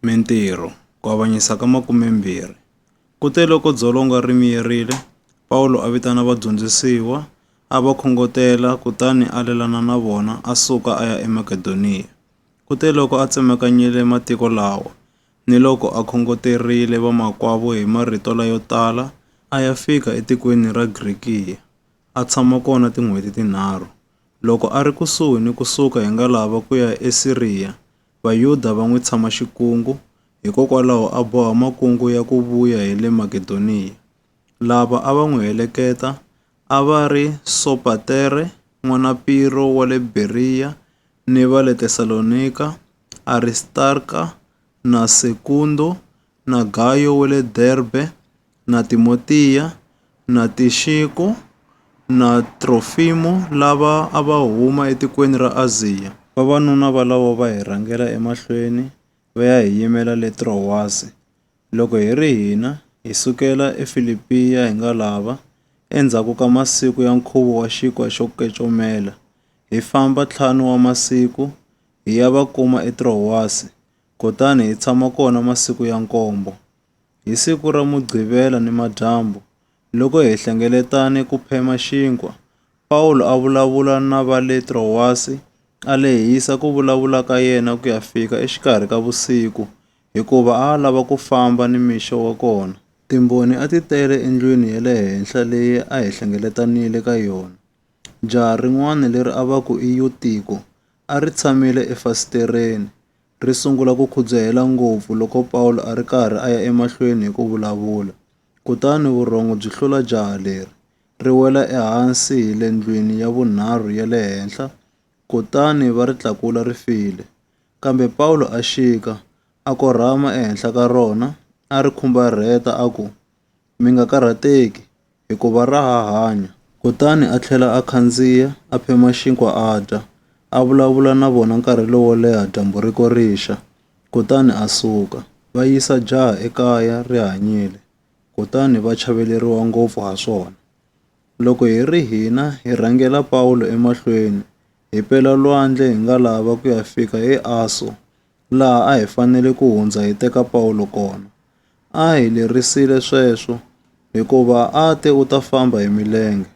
Mintirho, Ku Avanyisa ka Makumembirhi. Kuteloko dzolonga ri miyerile, Pawulo a vitana vadyondzisiwa, a va khongotela kutani a lelana na vona a suka a ya eMakedoniya. Kuteloko a tsemakanyile matiko lawa, niloko a khongoterile vamakwavo hi marito layo tala, a ya fika etikweni ra Grikiya, a tshama kona tin'hweti tinharhu. Loko a ri kusuhi ni ku suka hi ngalava ku ya eSiriya, Vayuda va n'wi tshama xikungu, hikokwalaho a boha makungu ya ku vuya hi le Makedoniya. Lava a va n'wi heleketa a va ri Sopatere n'wana Piro wa le Beriya ni va le Tesalonika, Aristarka na Sekundo na Gayo wa le Derbe, na Timotiya, na Tixiko, na Trofimo lava a va huma etikweni ra Aziya. Vavanuna valavo va hi rhangela emahlweni va ya hi yimela le Trowasi. Loko hi ri hina, hi sukela eFilipiya hi nga lava, endzhaku ka masiku ya nkhuvo wa Xinkwa xo Kecomela, hi famba ntlhanu wa masiku hi ya va kuma eTrowasi, kutani hi tshama kona masiku ya nkombo. Hi siku ra Mugqivela nimadyambu, loko hi hlengeletane ku phema xinkwa, Pawulo a vulavula na va le Trowasi, a lehisa ku vulavula ka yena ku ya fika exikarhi ka vusiku, hikuva a a lava ku famba nimixo wa kona. Timbhoni a ti tele endlwini ya le henhla leyi a hi hlengeletanile ka yona. Jaha rin'wana leri a va ku i Yutiko a ri tshamile efasitereni. ri sungula ku khudzahela ngopfu loko Pawulo a ri karhi a ya emahlweni hi ku vulavula. Kutani vurhongo byi hlula jaha leri, ri wela ehansi hi le ndlwini ya vunharhu ya le henhla, kutani va ri tlakula ri file. Kambe Pawulo a xika, a korhama ehenhla ka rona, a ri khumbarheta a ku, Mi nga karhateki, hikuva ra ha hanya. Kutani a tlhela a khandziya, a phema xinkwa a dya, a vulavula na vona nkarhi lowo leha dyambu ri ko rixa, kutani a suka. Va yisa jaha ekaya ri hanyile, kutani va chaveleriwa ngopfu ha swona. Loko hi ri hina hi rhangela Pawulo emahlweni, hi pela lwandle hi nga lava ku ya fika eAso, laha a hi fanele ku hundza hi teka Pawulo kona. A hi lerisile sweswo, hikuva a te u ta famba hi milenge.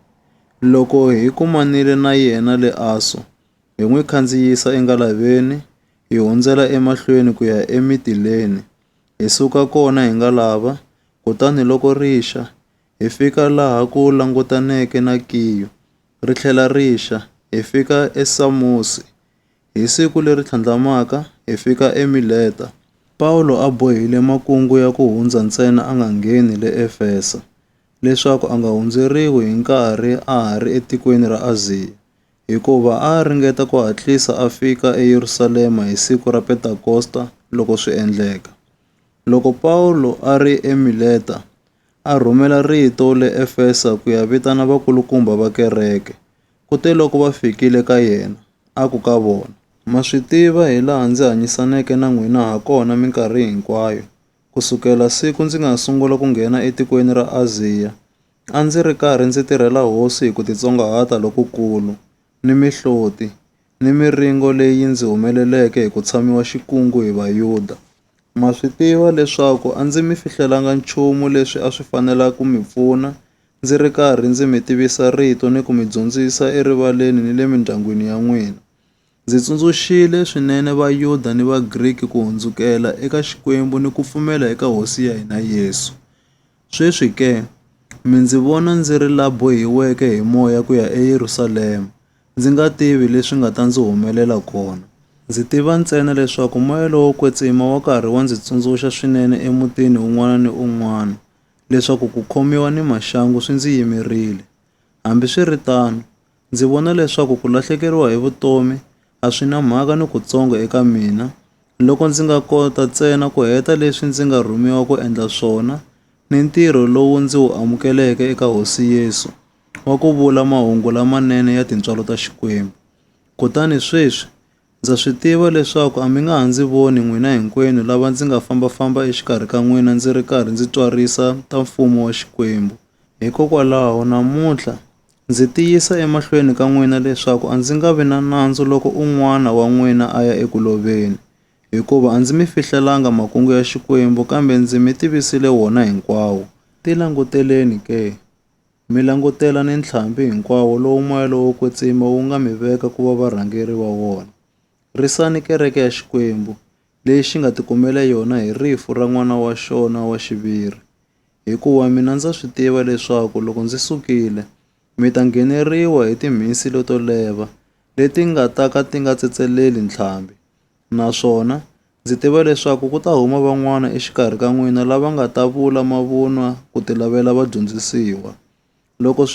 Loko hi kumanile na yena le Aso, hi n'wi khandziyisa engalaveni hi hundzela emahlweni ku ya eMitileni, hi suka kona hi ngalava, kutani loko ri xa, hi fika laha ku langutaneke na Kiyo, ri tlhela ri xa, hi fika eSamosi, Hi siku leri tlhandlamaka, hi fika eMileta. Pawulo a bohile makungu ya ku hundza ntsena a nga ngheni le Efesa, leswaku a nga hundzeriwi hi nkarhi a ha ri etikweni ra Aziya, hikuva a a ringeta ku hatlisa a fika eYerusalema hi siku ra Pentakosta loko swi endleka. Loko Pawulo a ri eMileta, a rhumela rito le Efesa ku ya vitana vakulukumba va kereke. Kuteloko va fikile ka yena, a ku ka vona, Ma swi tiva hilaha ndzi hanyisaneke na n'wina hakona minkarhi hinkwayo, ku sukela siku ndzi nga sungula ku nghena etikweni ra Aziya, a ndzi ri karhi ndzi tirhela Hosi hi ku titsongahata lokukulu, ni mihloti, ni miringo leyi ndzi humeleleke hi ku tshamiwa xikungu hi Vayuda. Ma swi tiva leswaku a ndzi mi fihlelanga nchumu leswi a swi fanela ku mi pfuna, ndzi ri karhi ndzi mi tivisa rito ni ku mi dyondzisa erivaleni ni le mindyangwini ya n'wina. Ndzi tsundzuxile swinene Vayuda ni Vagriki ku hundzukela eka Xikwembu ni ku pfumela eka Hosi ya hina Yesu. Sweswi ke, mi ndzi vona ndzi ri la bohiweke hi moya ku ya eYerusalema, Ndzi nga tivi leswi nga ta ndzi humelela kona. Ndzi tiva ntsena leswaku moya lowo kwetsima wa karhi wa ndzi tsundzuxa swinene emutini wun'wana ni un'wana leswaku ku khomiwa ni maxangu swi ndzi yimerile. Hambi swi ri tano, ndzi vona leswaku ku lahlekeriwa hi vutomi a swi na mhaka ni kutsongo eka mina loko ndzi nga kota ntsena ku heta leswi ndzi nga rhumiwa ku endla swona ni ntirho lowu ndzi wu amukeleke eka Hosi Yesu. wa ku vula mahungu lamanene ya tintswalo ta Xikwembu. Kutani sweswi, ndza swi tiva leswaku a mi nga ha ndzi voni n'wina hinkwenu lava ndzi nga famba-famba exikarhi ka n'wina ndzi ri karhi ndzi tswarisa ta Mfumo wa Xikwembu. Hikokwalaho, namuntlha, ndzi tiyisa emahlweni ka n'wina leswaku a ndzi nga vi na nandzu loko un'wana wa n'wina a ya eku loveni, hikuva a ndzi mi fihlelanga makungu ya Xikwembu kambe ndzi mi tivisile wona hinkwawo. Tilanguteleni ke! Mi langutela ni ntlhambi hinkwawo lowu moya lowo kwetsima wu nga mi veka ku va varhangeri va wona. Risani kereke ya Xikwembu, leyi xi nga tikumele yona hi rifu ra N'wana wa xona wa xiviri. Hikuva mina ndza swi tiva leswaku loko ndzi sukile, mi ta ngheneriwa hi timhisi leto leva, leti nga ta ka ti nga tsetseleli ntlhambi. Naswona ndzi tiva leswaku ku ta huma van'wana exikarhi ka n'wina lava nga ta vula mavunwa ku tilavela vadyondzisiwa.